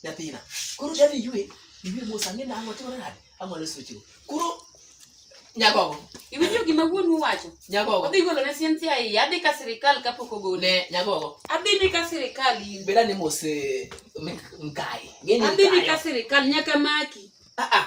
nyathina koro dadi ywe iwe mos ang'e na ang'o timore nade ang'o ne sochego koro nyagogo iwinjo gima wuonu wacho nyagogo odhi golo ne siensi ahiye adhi ka sirikal kapok ogole ne nyagogo adhi ni ka sirikal in beda ni mos eh, mik- mkai Ng'e ni adhi ni mkayo. ka sirikal nyaka maki ah ah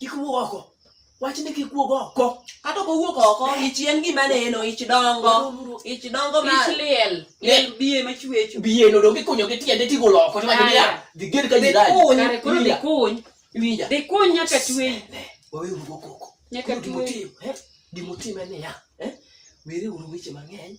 kik wuog oko wach ni kik wuog oko kata ok owuok oko ich en gima neno ich dongo ich dongo ma ich liel liel biye ma chwecho biye no donge kunyo gi tiende tigo loko to wajni ya dhi ged ka jirani kuny kare koro dhi kuny winja dhi kuny nyaka tweyi wawe urugo koko nyaka tweyi gimotim en niya eh? were uru weche mang'eny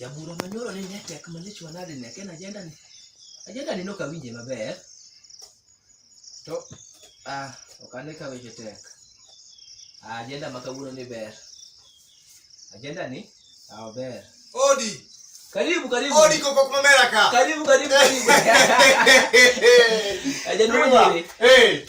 Jabura manyoro ni ne tek malich wanade ne ken ajenda ni. Ajenda ni nok awinje maber. To ah ok ane ka weche tek. Ah, Ajenda ma kawuono ni ber. Ajenda ni ah ber. Odi. Karibu karibu. Odi koko kuma mera ka. Karibu karibu karibu. Ajenda mwenyewe. Eh.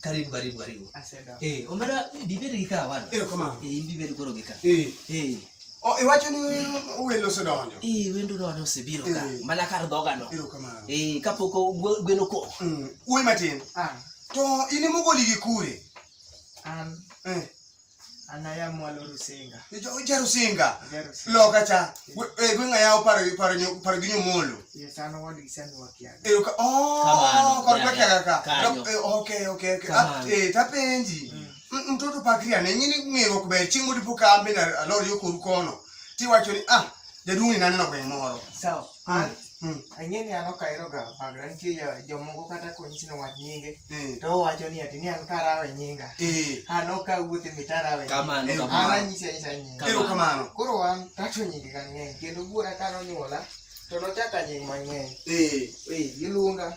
Karibu karibu karibu. Asante. Eh, omera bibere gika wana. Eh, koma. Eh, bibere koro gika. Eh. Eh. Oh, iwacho ni welo osedonjo. Eh, wendo donjo osebiro ka. Eh. Mana kar dhoga no. Ero kama. Eh, kapok gweno ko. Mm. Uwe matin. Ah. To in emogoli gi kure. An. Eh. Anaya mwalo Rusinga. Ijo ija Rusinga. Loka cha. E eh, gwinga yao paro paro nyo paro ginyo molo. Yes, ano wadi sani wakiaga. E ka oh, kwa kwa kiaga ka. Eh, okay, okay, okay. Ah, eh tapenji. Mm. Mtoto pakria ne nyini ngero kuber chingu dipo kambe na lori yokoru kono. Tiwacho ni ah, jaduong' ni naneno gweng' moro. Sawa. An hmm. ang'e ni an ok aheroga bagra nitie jomoko kata konyisi ni wach nyinge hmm. to owacho ni ati ni an karawe nyinga hmm. an ok awuoth e mitarawe an anyisi anyisa nyinga erokamano koro an tato nyinge kang'eny kendo wuora ka nonyuola to nochaka nying mang'eny iluonga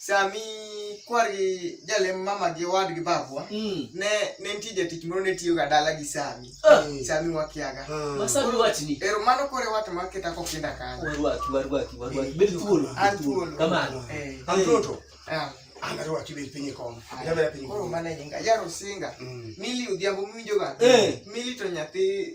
sami kwargi jalem mama gi owadgi babwa mm. ne ne nitie jatich moro ne tiyoga dala gi sami ah. mm. sami wakiaga mm. ero mano kore wat maketa kokinda kanyo anarwaki bed piny kom jabera piny koro mana jinga yaro singa mili odhiambo miwinjoga mili to nyathi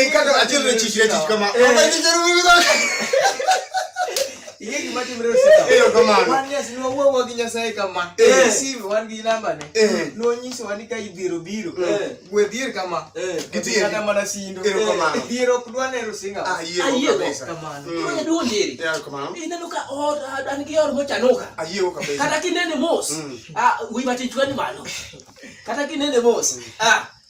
enkata achiel ne chich ne chich kama ing'e gima timre osiekawanwawuowo gi nyasaye kama sim wan gi nambane nonyisowa ni ka idhiero biro gwe dhier kama kata mana sindo dhier ok dwa nero singaineno ka an gi or mochanoka kata kinene mos wiwa tichwani malo kata kinene mos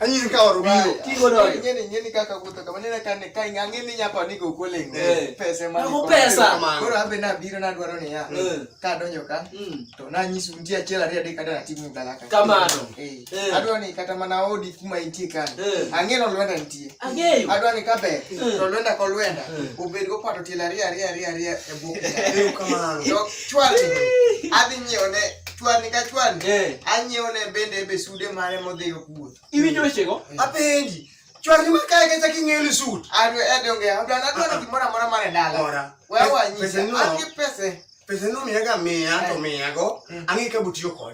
Anyi ni kawa rubio. Kingo do. Nyeni nyeni kaka kuta kama nina kane kai ngangi ni nyapa ni go kole ngi. Eh. Pesa mani. Ko pesa man. Koro abe na biro na dwaro ni ya. Eh. Ka donyo ka. Mm. To na nyisu ndia chela ria de kada timu galaka. Kama no. Eh. eh. Adwa ni kata mana odi kuma intie kan. Angi no lwenda ntie. Angi. Adwa ni kabe. To lwenda ko lwenda. Ubedi ko pato tila ria ria ria ria e buku. Kama no. Chwalni. Adhi nyiewo ne chwalni ka chwalni. Eh. Anyiewo ne bende be sude mare modhigo kuwuoth. Iwinjo wechego? Eh. Apenji. Chwalni ma kae kacha king'eyo ni sut. Adhi edonge. Adwa adwa ah, ah. gimoro amora mar e dala. Ora. Wewe anyisa. An gi pesa. Pesa no miyaga miya to eh. miyago. Eh. Ang'e ka butiyo kode.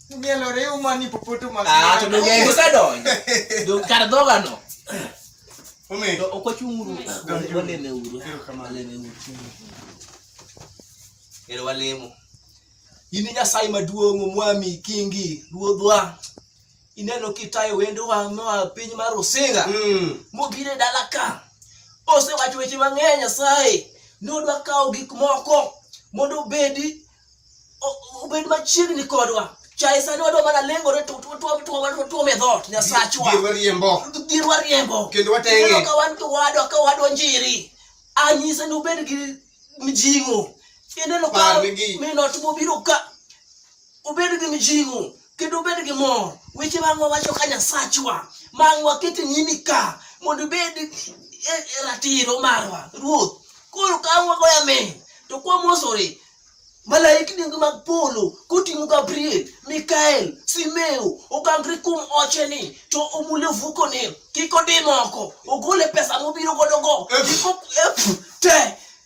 Tumielore umani popote umani. Ah, to donge en osedonjo. Do kar dhoga no. Umi. To ok wachung uru. Waleme uru. Waleme uru. Ero walemo. In Nyasaye maduong' omwami kingi ruodhwa. Ineno kitayo wendowa moa piny mar Osinga. Mm. Mobiro e dala ka. Osewacho weche mang'eny Nyasaye. Nodwa kawo gik moko mondo obedi obed machiegni kodwa chae sani wadwa mana lengore tuome dhot nyasachwa gir wariembo kendo watenge ka wan kiwadwa ka wadwa njiri anyise ni ubed gi mjing'o ineno ka minot mobiro ka ubed gi mjing'o kendo ubed gi mor weche ma wawacho ka nyasachwa ma wakete nyimi ka mondo ibed e, e ratiro marwa ruoth koro ka wagoyo amen to kwamosore malaikni mag polo koting'o gabriel mikael simeo ogangre kuom ocheni to omule vukone kik odimoko ogole pesa mobiro godogo e, e, te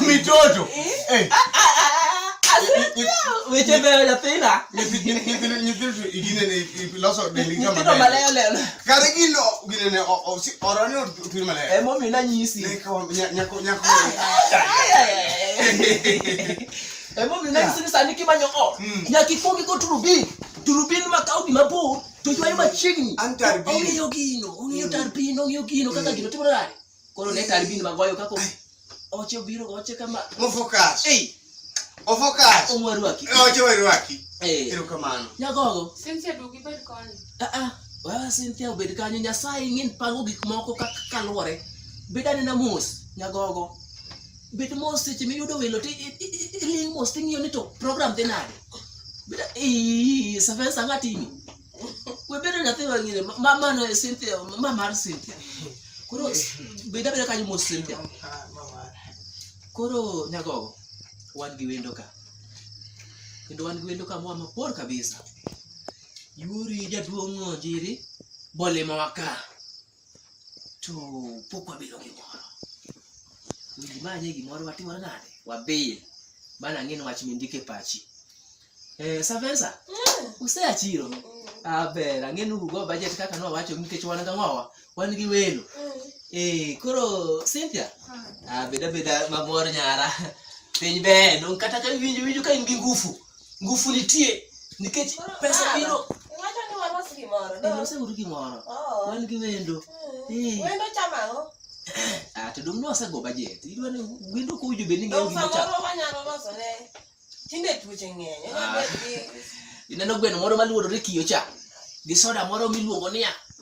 mitoto karigilo ginene oroni otur malaya emomina nyisi emomina nyisi ni sani kimanyo o nyaka ikwongi go turubin turubin ma kawo gima bor to ywayo machiegni ong'eyo gino ong'eyo tar piny ong'eyo gino kaka gino timore Koro ne kar bin magoyo kako. Oche obiro oche kama. Mofokas. Ei. Ofokas. Omwarwaki. E, oche warwaki. Eh. Ero kamano. Nyagogo. Cynthia duogi bed koni. Ah ah. Wa Cynthia obed kanyo Nyasaye ng'in pango gik moko kaka kaluwore. Bed anena mos nyagogo. Bed mos seche miyudo welo ti iling mos ting'iyo ni to program dhi nade. Bed ee safesa ng'atini. we bedo nyathi mang'ine mama no Cynthia mama mar Cynthia koro beda beda kanyo mos Cynthia koro nyagogo wan gi wendo ka kendo wan gi wendo ka moa mabor kabisa yuri jaduong' onjiri bolimowa ka to pok wabilo gimoro winji manye gimoro watimore nade wabil bana ng'in wach mindike pachi eh, savensa mm. useya chiro mm. aber ah, ang'en urugo bajet kaka nowacho nikech wan ga ng'owa wan gi welo mm. eh, koro cynthia ah. ah, beda beda mamor nyara piny ber kata ka winjo winjo ka in gi ngufu Ngufu nitie nikech pesa biro. Iwacho ni walos gimoro. Eh, lose uru gimoro. Oh. Wan gi wendo. Mm. Eh. Wendo chama ang'o? Ah, to dong' nosego bajet. Idwa ni wendo ko ujo bende ng'eyo gimoro. Dong' samoro wanyalo loso ne. Tinde tuoche ng'eny. Ah. Ineno gweno moro maluorore kiyo cha. Gi soda moro miluongo niya.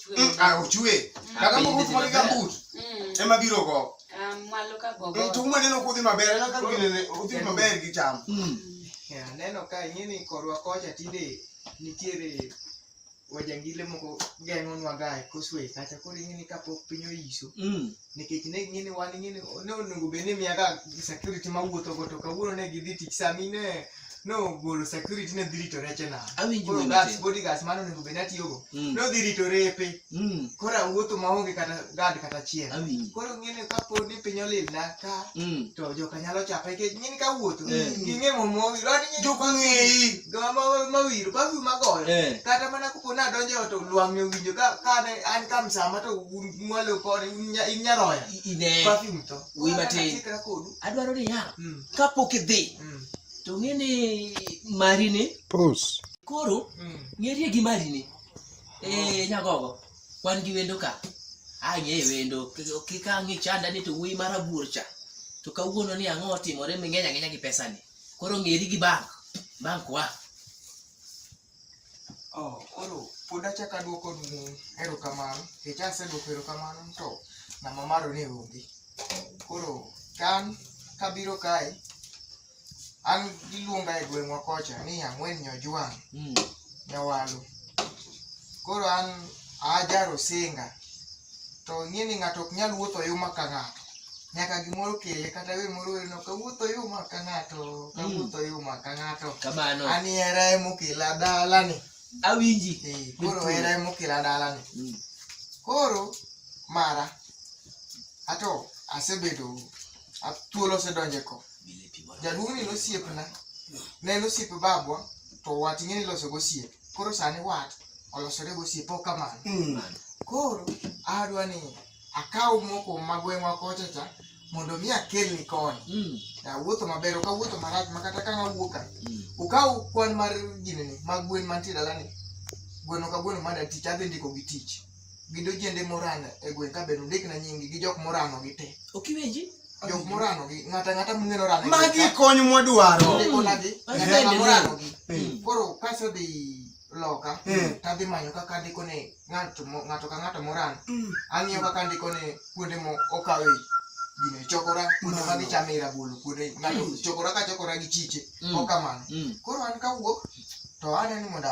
Mm, ah, ochwe mm. kata moko tuma gi gambut mm. ema biro go ah, to umwe neno kodhi maber ena kaka ginene odhi maber gi cham aneno ka ing'eni korwa kocha tinde nitiere wajangile moko geng'o nwa ga e koswe kacha koro ing'eni kapok piny oyiso nikech ne ging'eni wan ing'eni ne onego bed ni miyaga security mawuotho go to kawuono ne gidhi tich sami ne nogolo security ne dhi rito reche na Awinjo koro wende gas te. bodyguards mano onego bed natiyogo Mm. nodhi rito repe Mm. koro awuotho maonge kata gad kata achiel Awinjo. koro ng'eni ka pod ni piny olil na ka Mm. to joka nyalo chapa nikech ng'eni ka wuotho Eh. ging'e momowi Jok ong'eyi. mawiro bafu magoyo Eh. kata mana kopo ni adonjo e ot to lwang'ni owinjo ka kane an ka msama to un- mwalo kode un nya- in nyaroya I- Ine. perfume to Wuoyi matin. Koro an achikra kodu Adwaro ni ya. Mm. Kapok idhi. Mm. to ng'e ni mari ni pos koro mm. ng'erie gi mari ni e eh, nyagogo wan gi wendo ka ang'e wendo kik ang'e chanda ni to wuoyi mar abuor cha to kawuono ni ang'o otimore ming'eny ang'enya gi pesa ni koro ng'eri gi bank bank wa Oh, koro pod achako aduoko ni erokamano nikech aseduoko erokamano to namba maro ne onge koro kan kabiro kae an giluonga e gweng'wa kocha ni ang'wen nyojwang' mm. nyawalo koro an ajaro singa to ing'e ni ng'ato ok nyal wuotho yuma ka ng'ato nyaka gimoro kele kata we moro weno kawuotho yuma ka ng'ato kawuotho hmm. yuma ka ng'ato kamano ani era emokela dalani awinji eh, koro era emokela dalani hmm. koro mara ato asebedo thuolo osedonje ko jaduong' ni nosiepna ne nosiepe babwa to wach ing'e ni loso gosiepe koro sani wat olosore gosiepe ok kamano Mm. koro adwa ni akaw moko ma gweng'wa kocha cha mondo mi akelni koni Mm. awuotho maber ok awuotho marach ma kata ka nawuok ka Mm. ukaw kwan mar ginene mag gwen mantie dalani gweno ka gweno mada tich adhi ndiko gi tich gi dojende morano e gweng' ka bende undikna nyinggi gi jok morano gi te ok iwinji jok morano gi ng'ata ng'ata mung'eyo rano magi kony mwadwaro ndikonagi ng'ata ng'ata morano gi Mm. koro kasedhi loka Mm. tadhi manyo kaka andiko ne ng'ato mo- ng'ato ka ng'ato morano Mm. ang'iyo kaka andiko ne kuonde mo okawe gino e chokora kuonde ma Mano. gichame rabolo kuonde ng'ato chokora ka chokora gi chiche Mm. okamano Mm. koro an kawuok to aneno ni mondo